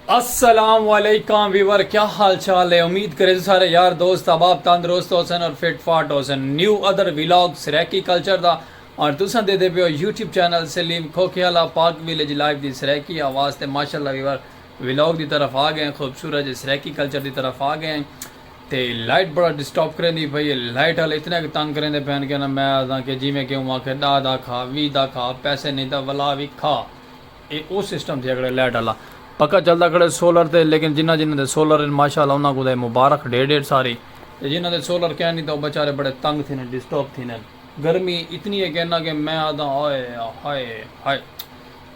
السلام علیکم ویور کیا حال چال ہے امید کریں سارے یار دوست احباب تندرست ہو سن اور فٹ فاٹ ہو سن new other vlog Saraiki culture دا اور تساں دے دے پیو YouTube channel Salim Khokhiala Pak village life دی سریکی آواز تے ماشاءاللہ ویور ویلاگ دی طرف آ گئے خوبصورت جے سریکی کلچر دی طرف آ گئے تے لائٹ بڑا ڈسٹرب کریندی پئی اے۔ لائٹ آلے اتنے کہ تنگ کریندے پئن کہ نہ میں آہداں کہ جیویں کہ اوں آکھے ڈاہ دا کھا ویہہ دا کھا پیسے نئیں تاں ولا وی کھا اے او سسٹم تھیا کھڑے لائٹ آلا پکا چلدا کھڑے سولر تے لیکن جنہاں جنہاں دے سولر ہن ماشاء اللہ انہاں کوں تاں اے مبارخ ڈھیر ڈھیر ساری تے جنہاں دے سولر کین نئیں تاں او بیچارے بڑے تنگ تھیندے ڈسٹرب تھیندے گرمی اتنی اے کہ نہ کہ میں آہداں ہائے ہائے ہائے۔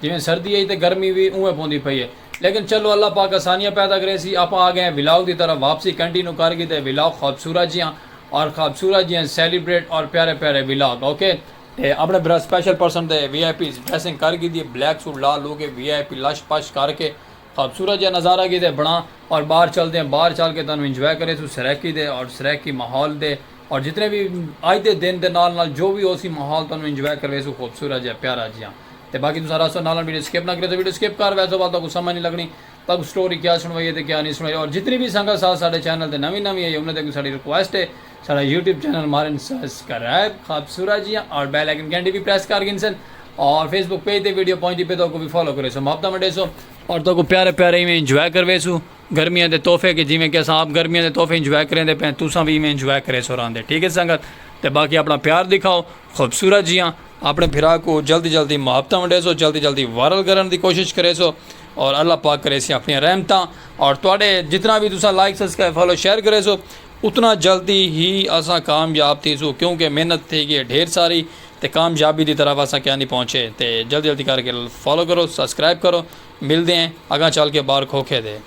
جیویں سردی ہئی تے گرمی وی اونویں پوندی پئی ہے لیکن چلو اللہ پاک آسانیاں پیدا کریسی آپاں آ گئے ہیں ولاگ دی طرف واپسی کنٹینو کر گھیدے ولاگ خوبصورت جیاں اور خوبصورت جیاں سیلیبریٹ اور پیارے پیارے ولاگ اوکے۔ تے اپنے بھرا سپیشل پرسن دے وی آئی پیز ڈریسنگ کر گھیدی ہے بلیک سوٹ لا لو کے وی آئی پی لش پش کر کے خوبصورت جیہا نظارہ کیتے بنڑا اور باہر چلدے ہیں باہر چل کے تانوں انجوائے کرے سوں سرائیکی دے اور سرائیکی ماحول دے اور جتنے وی اج دے دن دے نال نال جو وی ہوسی ماحول تانوں انجوائے کروے سوں خوبصورت جیہا پیارا جیہا تے باقی تساں رہسو نال نال ویڈیو سکپ نہ کریو تے ویڈیو سکپ کر ویسو ول تہاکوں سمجھ نی لگنی تہاکوں سٹوری کیا سنڑوائیے تے کیا نی سنڑوائیے اور جتنی وی سنگت ساڈے چینل تے نوی نوی آئی انہاں تے اگوں ساڈی ریکویسٹ ہے ساڈا یوٹیوب چینل مارن سسکرائب خابسورا جیاں اور بیل آئیکن گھنٹی وی پریس کر گھنسن اور فیس بک پیج تے ویڈیو پہنچ دی پے تو کو وی فالو کرے سو محبتاں ونڈے سو اور تو کو پیارے پیارے ایویں انجوائے کروے سو گرمیاں دے تحفے کے جیویں کہ اساں آپ گرمیاں دے تحفے انجوائے کریں دے پے تساں وی ایویں انجوائے کرے سو راندے ٹھیک ہے سنگت تے باقی اپنا پیار دکھاؤ خوبصورت جیاں اپنے بھرا کو جلدی جلدی محبتاں ونڈے سو جلدی جلدی وائرل کرن دی کوشش کرے سو اور اللہ پاک کرے سی اپنی رحمتاں اور تواڈے جتنا بھی تساں لائک سسکرائب فالو شیئر کرے سو اتنا جلدی ہی اساں کامیاب تھیسوں کیونکہ محنت تھی گی ہے ڈھیر ساری تے کامیابی دی طرف اساں کیاں نی پہنچے تے جلدی جلدی کر کے فالو کرو سبسکرائب کرو ملدے ہیں اگاں چل کے بار کھوکھے دے۔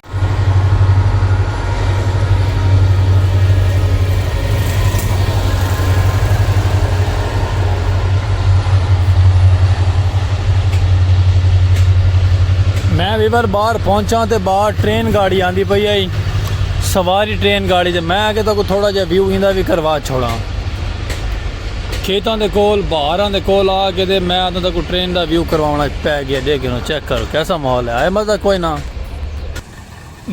میں ویور بار پہنچاں تے بار ٹرین گاڑی آندی پئی ہئی سواری ٹرین گاڑی تے میں آکھیا تہاکوں تھوڑا جیہا ویو ایندا وی کروا چھوڑاں۔ کھیتاں دے کول بہاراں دے کول آ کے تے میں آتاں تہاکوں ٹرین دا ویو کرواوݨ اچ پے گیا ݙیکھ گھنوں چیک کر کیسا ماحول ہے آئے مزہ کوئ نہ۔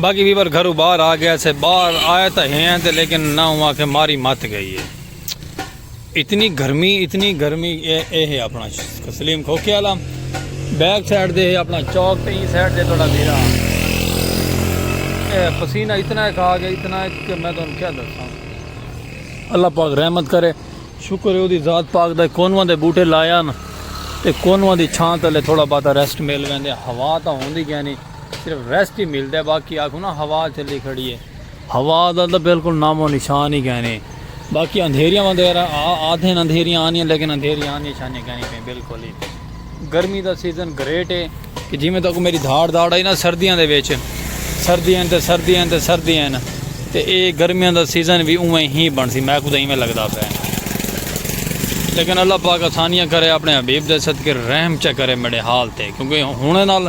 باقی ویور گھروں باہر آ گیا سے باہر آئے تاں ہیں تے لیکن نہ اوں آکھے ماری مت گئی ہے۔ اتنی گرمی اتنی گرمی اے اے ہے اپنا سلیم کھوکے والا بیک سائیڈ دے ہے اپنا چوک تے سائیڈ دے تھوڑا میرا اے پسینہ اتنا ہے کھا گیا اتنا ہے کہ میں تمہیں کیا دساں اللہ پاک رحمت کرے شکر ہے اودی ذات پاک دے کونواں دے بوٹے لایا نا تے کونواں دی چھاں تلے تھوڑا باتا ریسٹ مل گئے ہوا تا ہوندی گیا نہیں صرف ریسٹ ہی ملدا ہے باقی آکھو نا ہوا چلی کھڑی ہے ہوا دا تاں بالکل نام و نشان ہی کینی باقی اندھیریاں وغیرہ آدھے اندھیریاں آنیاں لیکن اندھیریاں آنیاں شانیاں کینی پئیں بالکل ہی گرمی دا سیزن گریٹ ہے کہ جی میں تاکو میری دھاڑ دھاڑ آئی نا سردیاں دے ویچ سردیاں تے سردیاں تے سردیاں تے اے گرمیاں دا سیزن بھی اوہ ہی بن سی میں کو دیں میں لگتا پہ لیکن اللہ پاک آسانیاں کرے اپنے حبیب دے صدقے رحم چا کرے میرے حال تے کیونکہ ہونے نال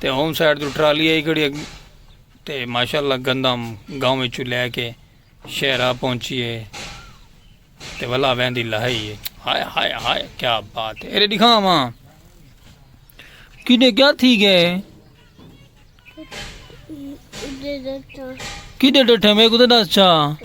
تے ہوم سائیڈ تو ٹرالی آئی کھڑی تے ماشاءاللہ گندم گاؤں میں چھو لے کے شہرہ پہنچی ہے تے ولا وین دی لہائی ہے ہائے ہائے ہائے کیا بات ہے ایرے دکھا ماں کیڑے کیا تھی گئے کیڑے ڈٹھے میں کتے دس چاہ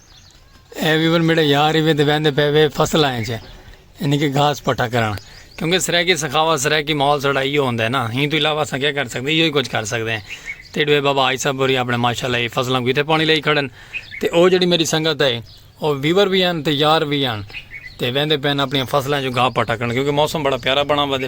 اے وی ون میڈا یار ہی وے تے ویندے پے وے فصل آئیں چھے یعنی کہ گھاس پٹا کرن کیونکہ سرائیکی سخاوت سرائیکی ماحول سڑا ہی ہوندے نا ہی تو علاوہ سا کیا کر سکتے ہی کچھ کر سکتے ہیں تے ڈوے بابا آئی صاحب بری اپنے ماشاءاللہ ہی فصلوں کو تے پانی لئی کھڑن تے او جڑی میری سنگت ہے او ویور بھی ہیں تے یار بھی ہیں تے ویندے پین اپنی فصلیں جو گھا پٹا کرن کیونکہ موسم بڑا پیارا بنا ودے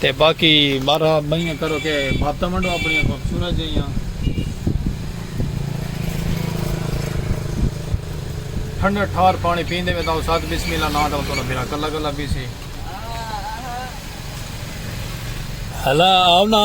تے باقی بارہ بئیاں کرو کے بھاتاں ونڈو اپنیاں خوبصورت جئیاں ٹھنڈا ٹھار پانی پیندے وے تاؤ ساتھ بسم اللہ ناں تاؤ تولا بھیرا کلا کلا پیسی ہلا آؤ نا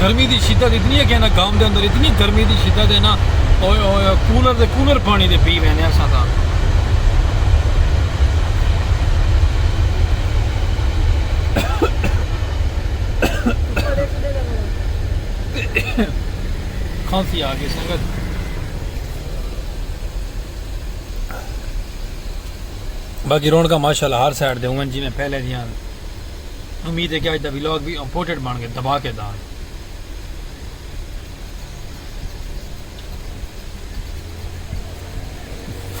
گرمی دی شدت اتنی ہے کہ انہاں گام دے اندر اتنی گرمی دی شدت ہے نا اوئے اوئے اوئے کولر دے کولر پانی دے پی ویندے اساں تاں کھانسی آ گئی سنگت باقی رونکاں ماشاءاللہ ہر سائیڈ دے ہوں جی میں پہلے دیاں امید ہے کہ اج دا ولاگ وی امپورٹنٹ بن گئے دبا کے دان۔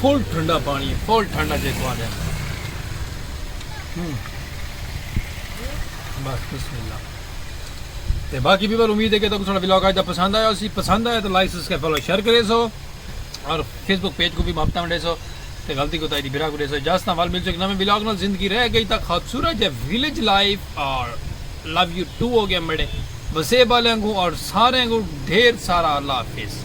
فل ٹھنڈا پانی ہے فل ٹھنڈا جے کو آدھے بس بسم اللہ تے باقی بھی بار امید ہے کہ تک سارا ولاگ آج دا پسند آیا اسی پسند آیا تو لائک سبسکرائب فالو شیئر کرے سو اور فیس بک پیج کو بھی ماپتا منڈے سو تے غلطی کوتاہی دی بھرا کوں ݙیساں جس تاں ول مل سو اک نویں ولاگ نال زندگی رہ گئی تاں خابسورت ہے ولیج لائف اور لو یو ٹو اوکے میڈے وسیب آلیاں کوں اور ساریاں کوں ڈھیر سارا اللہ حافظ۔